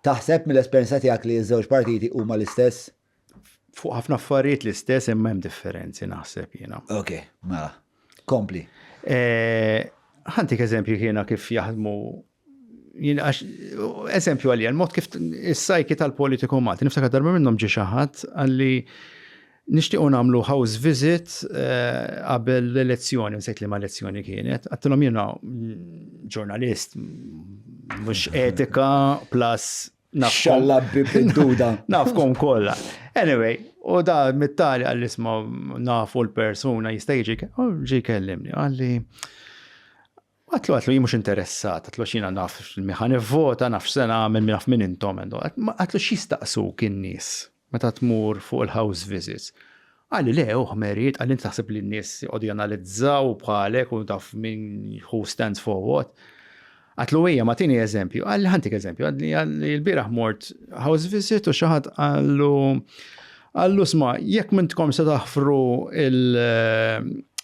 Taħseb, mill-esperjenza tiegħek, li ż-żewġ partiti huma l-istess? Fuq ħafna affarijiet l-istess imma hemm differenzi naħseb jiena. Ok, mela. Kompli. Eh, ħantik eżempju jiena kif jaħdmu eżempju għalija, l-mod kif is-sajki tal-politiku Malti, niftakar darba minnhom ġi xi ħadd għalli Nixtiequ nagħmlu house visit qabel l-elezzjoni, nsejt liema elezzjoni kienet. Għattilhom jiena ġurnalist, mhux etika, plus Xalla bibduda. Nafkom kollha. Anyway, u da mittali għall isma nafu l-persuna jista' jiġi ġi kellimni. Għalli Għatlu, għatlu, jien mhux interessat, għatlu xina naf min ħa nivvota, naf x'se nagħmel, naf min intom. Għatlu x'jistaqsuk in-nies meta tmur fuq il-house visits. Qalli le, uħ Meriet, qalli inti taħseb li n-nies jqogħdu janalizzaw bħalek u taf min who stands for what. Għatlu ejja ma tini eżempju, għalli ħantik eżempju, għalli l-biraħ mort house visit u xaħat għallu għallu sma, jekk mintkom se taħfru il-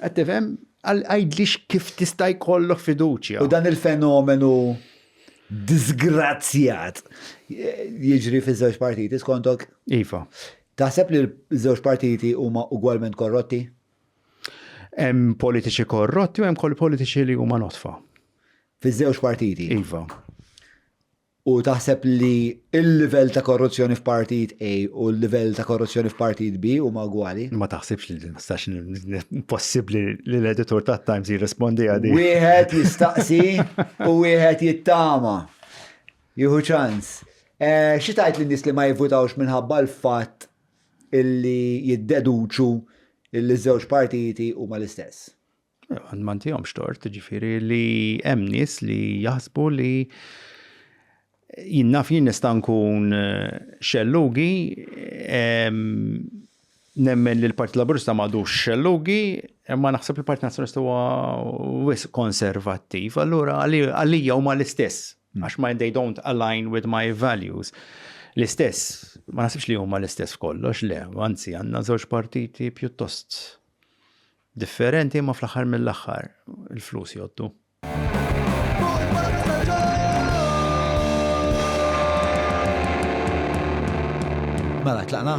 Qed tifhem? Għidli kif tista' jkollok fiduċja. U dan il-fenomenu disgrazzjat jiġri fiż-żewġ partiti skontok? Iva. Taħseb li ż-żewġ partiti huma ugwalment korrotti? Hemm politiċi korrotti u hemm kol politiċi li huma notfa. Fiż-żewġ partiti? Iva. U taħseb li l-livell ta' korruzzjoni f'partit A u l-livell ta' korruzzjoni f'partit B huma ugwali? Ma taħsibx li din tistax possibbli li l-editur tat-Times jirrispondi għal din. Wieħed jistaqsi u wieħed jittama. Jieħu ċans. Xi tgħid lin-nies li ma jivvutawx minħabba l-fatt li jiddeduċu li ż-żewġ partiti huma l-istess? Ma ntihomx tort, ġifieri li hemm nies li jaħsbu li jien naf jien nista' nkun eh, xellugi, nemmen li l-Partit Laburista m'għadux xellugi, imma naħseb li l-Partit Nazzjonalista huwa wis konservattiv, allura għalija huma l-istess, hmm. għax ma they don't align with my values. L-istess, ma naħsibx li huma l-istess f'kollox, le, anzi għandna żewġ partiti pjuttost Differenti imma fl-aħħar mill-aħħar il-flus jgħoddu. Mela tlaqna?